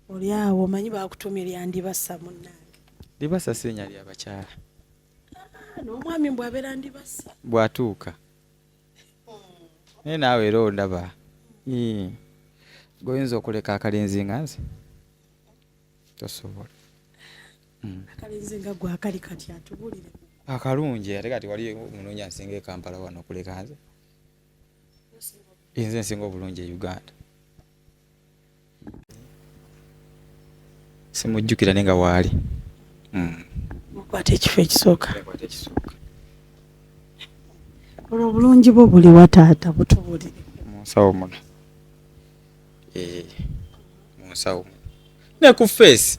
oli awo omanyi bakutumye lyandibasa munange libasa si linya lyabakyala ah, n'omwami mbw abeera ndibasa bwatuuka naye naawe era ondaba goyinza okuleka akalinzi nga nze tosobola hmm. akalinzi nga gwe akali kati atubulire akalungi ate kati wali omunoonya nsinga ekampala wano okuleka nze nze nsinga obulungi e uganda simujjukira ne nga waali hmm. mukwata ekifo ekisooka olwo obulungi bwo buli wa taata butubulire munsawo muno eh, munsawo muno ne ku feesi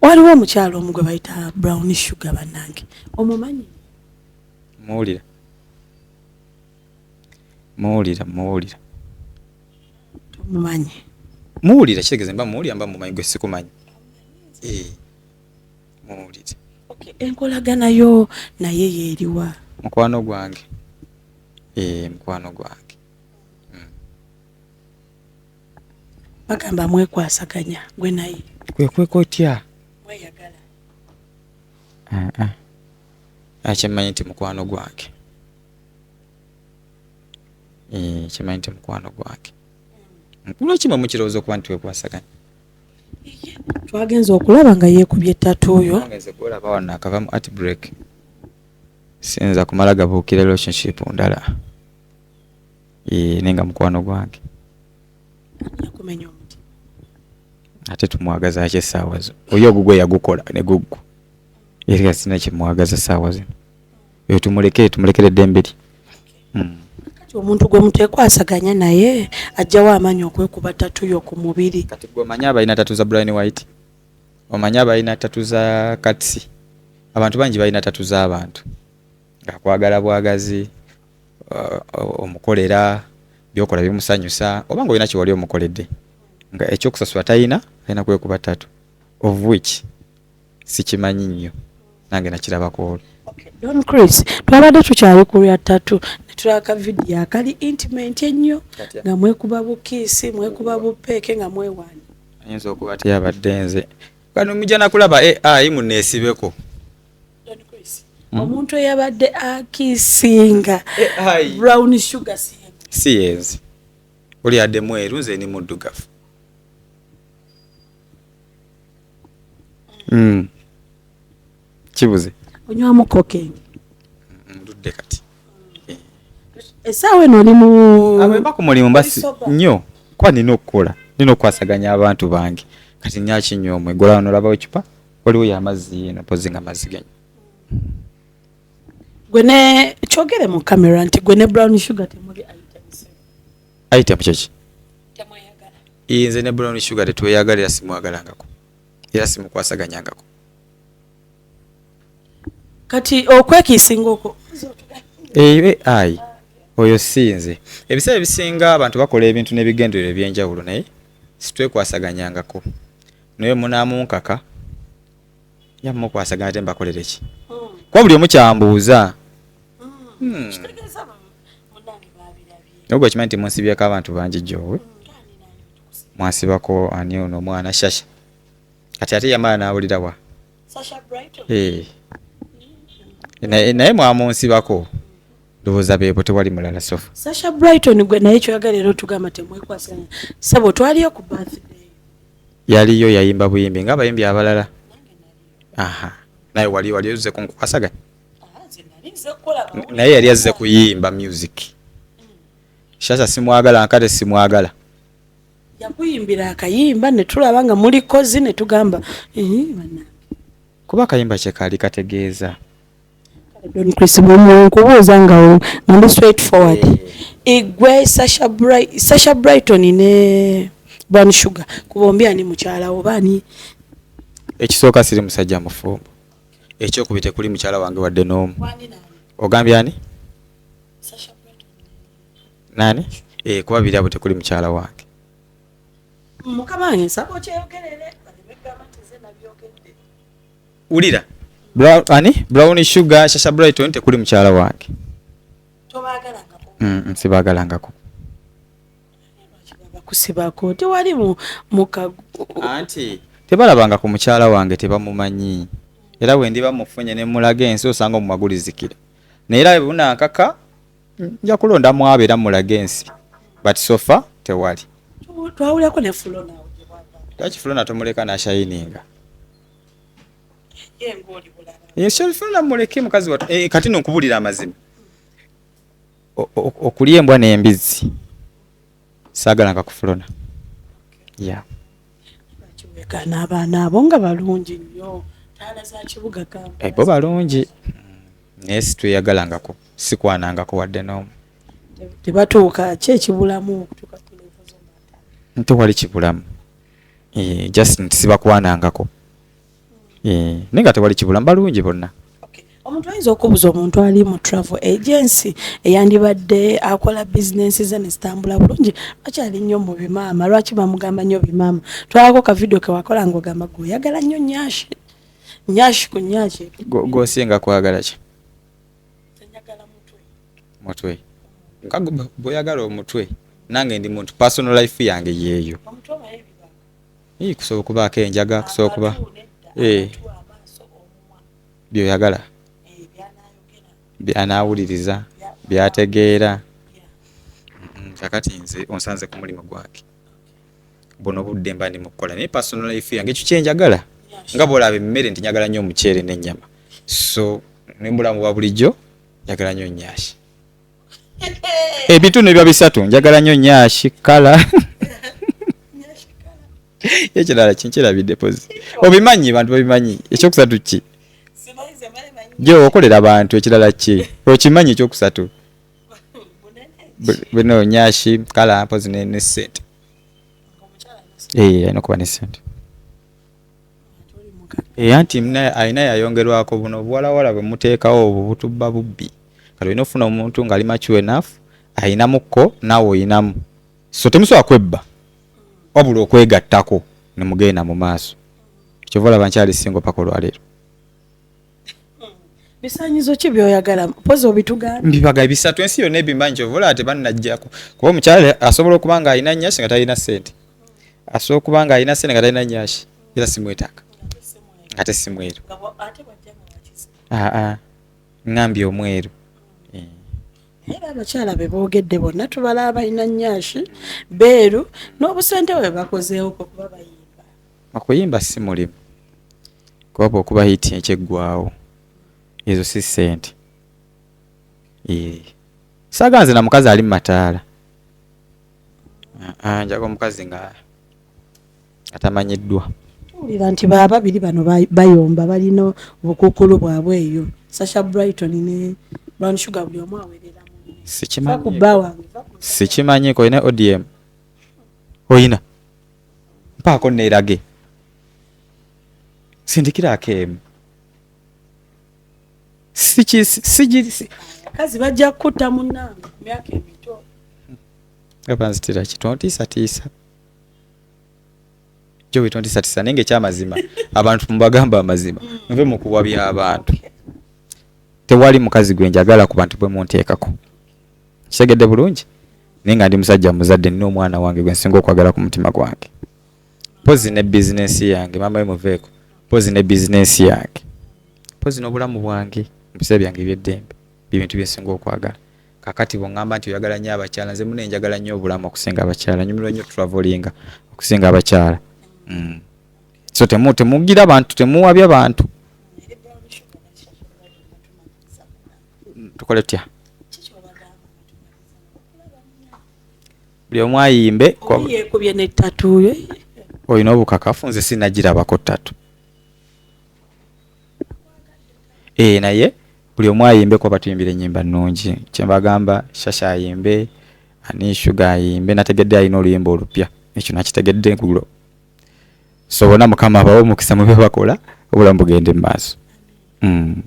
waliwo omukyalo omu gwe bayita brown sugar bannange omumanyi muwulira muwulira muwulira tomumanyi muwulira kitegeeza mba muwulira mba mumanyi gwe sikumanyi eh, muwulire enkolagana yo naye yeeriwa mukwano gwange eh, mukwano gwange bagamba mwekwasaganya gwe naye kwekweka otya mweyagala akyemanyi nti mukwano gwange eh, kyemanyi nti mukwano gwange lwaki mwe mukirowooza okuba nti wekwasaganya twagenza okulaba nga yeekubye ettatu oyo olaba wano akava mu art break siyinza kumala gabuukira relationship ndala Eeh nenga mukwano gwange. Nakumenya omutima. Ate tumwagaza ki essaawa zo? Oyo ogugwo yagukola ne gugwo. Era sina kimwagaza essaawa zino. Oyo tumuleke tumulekere eddembe lye. Mm. Kati omuntu gwe mutekwasaganya naye ajjawo amaanyi okwekuba tatu yo ku mubiri. Kati gwe omanyi abalina tatu za Brian White? Omanyi abalina tatu za Katsi? Abantu bangi balina tatu z'abantu. Ng'akwagala bwagazi, uh, omukolera byokola bimusanyusa oba nga olina kyewali omukoledde nga ekyokusasula talina alina kwekuba tatu of which sikimanyi nnyo nange nakirabako olwo don chris twabadde tukyali kulya tatu netulaka vidiyo akali intimenti ennyo nga mwekuba bukiisi mwekuba bupeeke nga mwewaani ayinza okuba teyabadde nze kano mujja nakulaba ai muneesibeko hmm? omuntu eyabadde akisinga eh, brown sugar si yenzi oli adde mweru nze ni muddugavu hmm. kibuze onywamu kokengi ndudde hmm, kati esaawa eno oli muba ah, ku mulimu basi nnyo kuba nina okukola nina okukwasaganya abantu bange kati nyaki nyo omwe golaonolabawo ecupa waliwo yamazzi yena pozi nga mazzi genyi gwe ne kyogere mu kamera nti gwe ne brown sugar temuli item kyeki nze ne brown sugar tetweyagala era simwagalangako era simukwasaganyangako kati okwekiisinga okwo eyo ai oyo sinze ebiseera ebisinga abantu bakola ebintu n'ebigenderero ebyenjawulo naye sitwekwasaganyangako naye munamunkaka ya mukwasagana te mbakolere ki kuba buli omu kyambuuza hmm. naye gwekimanyi nti munsibyeko abantu bangi gyowe mwasibako ani ono omwana shasha kati ate yamala nawulira wa eh. naye mwamunsibako ndowooza beebo tewali mulala sofa sasha brighton gwe naye kyoyagala era otugamba temwekwasanya sabo twaliyo ku birthday yaliyo yayimba buyimbi nga abayimbi abalala aha naye wali wali oze kunkukwasaganya naye yali azze kuyimba music shasha simwagala nkate simwagala yakuyimbira akayimba netulaba nga muli kozi netugamba kuba akayimba kyekaali kategeeza Don Chris Bumwe nkubuuza nga nga ndi straight forward eh. igwe Sasha Bright Sasha Brighton ne Brown Sugar ku bombi ani mukyala wo bani ekisooka siri musajja mufumbo ekyokubiri tekuli mukyala wange wadde n'omu ogambye ani nani eh kuba biri abo tekuli mukyala wange mukama wange nsaba okyeyogerere wulira brown ani brown sugar shasha brighton tekuli mukyala wange tobagalangako mm, mm sibagalangako kusibako tewali mukagu anti tebalabanga ku mukyala wange tebamumanyi era wendi bamufunye nemulaga ensi osanga omumagulizikira naye era bunankaka nja kulonda mwabo era mulaga ensi but sofa tewali twawulako nefulo nawe lwaki fulona tomuleka nashayininga eh, sherifuna muleke mukazi watu eh, kati no kubulira amazima okulya embwa n'embizzi saagala nga kufulona ya n'abaana abo nga balungi nnyo taala za kibuga eh, bo balungi naye situyagalangako sikwanangako wadde n'omu tebatuuka ki ekibulamu okutuuka nti wali kibulamu eh, just nti sibakwanangako eh, naye nga tewali kibula mbalungi bonna omuntu ayinza okubuza omuntu ali mu travel agency eyandibadde akola bizinensi ze nezitambula bulungi lwaki ali nnyo mu bimaama lwaki bamugamba nnyo bimaama twalako kavidiyo kewakola nga ogamba gwe oyagala nnyo nyashi nyashi ku nyashi gwosinga kwagala ki mutwe bweyagala omutwe nange ndi muntu personal life yange yeeyo kusobola okubaako enjaga kusobola okuba eh. byoyagala eh, byanaawuliriza byategeera kakati nze onsanze ku mulimu gwange buno budde mba ndi mu kukola naye personal life yange ekyo kyenjagala nga bwolaba emmere nti njagala nnyo omuceere n'ennyama so nembulamu bwa bulijjo njagala nnyo nyashi ebitundu ebya bisatu njagala nnyo nyashi kala ekirala kinkirabidde pozi obimanyi bantu babimanyi ekyokusatu ki gye okolera abantu ekirala ki okimanyi ekyokusatu bino nyashi kala mpozi ne ne sente eh ayina kuba ne sente eh anti mna ayina yayongerwako buno bwala wala bwe mutekawo obu butubba bubbi kati oyina ofuna omuntu ngali mature enough ayina mukko nawe oyinamu so temusobola kwebba wabula okwegattako ne mugenda mu maaso kyova olaba nkyali singo paka olwaleero bisanyizo ki byoyagala mpozi obitugamba mbibaga bisatu ensi yonna ebimbanyi kyovola ate bannajjako kuba omukyala asobola okuba nga alina nyashi nga talina sente asobola okuba nga alina sente nga talina nyashi era simwetaka ate simweru aa ngambye omweru eh. era abakyala be boogedde bonna tubala abalina nyashi beeru n'obusente bwe bakozeewo kuba bayina Okuyimba ssi mulimu kuba okuba hit ekyo eggwaawo ezo si ssente saaga nze na mukazi ali mu mataala njaga omukazi nga atamanyiddwa owulira nti bababiri bano bayomba balina obukukulu bwabwe eyo sasha brighton ne brown sugar buli omu awerera sikimanyi ko ine odm oyina mpaako neerage sindikiraako emu kazi bajja kukutta munange myaka emito abanzitira ki tontiisatiisa jo wetontiisatiisa naye ngaekyamazima abantu mubagamba amazima mm. nve mukuwa by'abantu tewali mukazi gwe njagala ku bantu bwe munteekako kitegedde bulungi naye nga ndi musajja muzadde nina omwana wange gwe nsinga okwagala ku mutima gwange mpozi ne bizinensi yange maama we muveeko mpozi ne bizinensi yange mpozi n'obulamu bwange mubiseera byange ebyeddembe byebintu byensinga okwagala kakati bwongamba nti oyagala nnyo abakyala nze muna enjagala nnyo obulamu okusinga abakyala nyumirwa nnyo travelinga okusinga abakyala mm. so temugira bantu temuwabya bantu tukole tya buli omu ayimbe yekubye ne tatuyo olina obukakafu nze sinagirabako tatu ee eh, naye buli omu ayimbe kuba batuyimbira enyimba nungi kyembagamba shasha ayimbe ani shuga ayimbe nategedde alina oluyimba olupya ekyo nakitegedde kulo so bona mukama abawe omukisa mube bakola obulamu bugende mu maaso mm.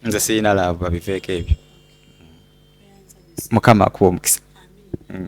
nze sirina laavu babiveeko ebyo mukama akuwa omukisa mm.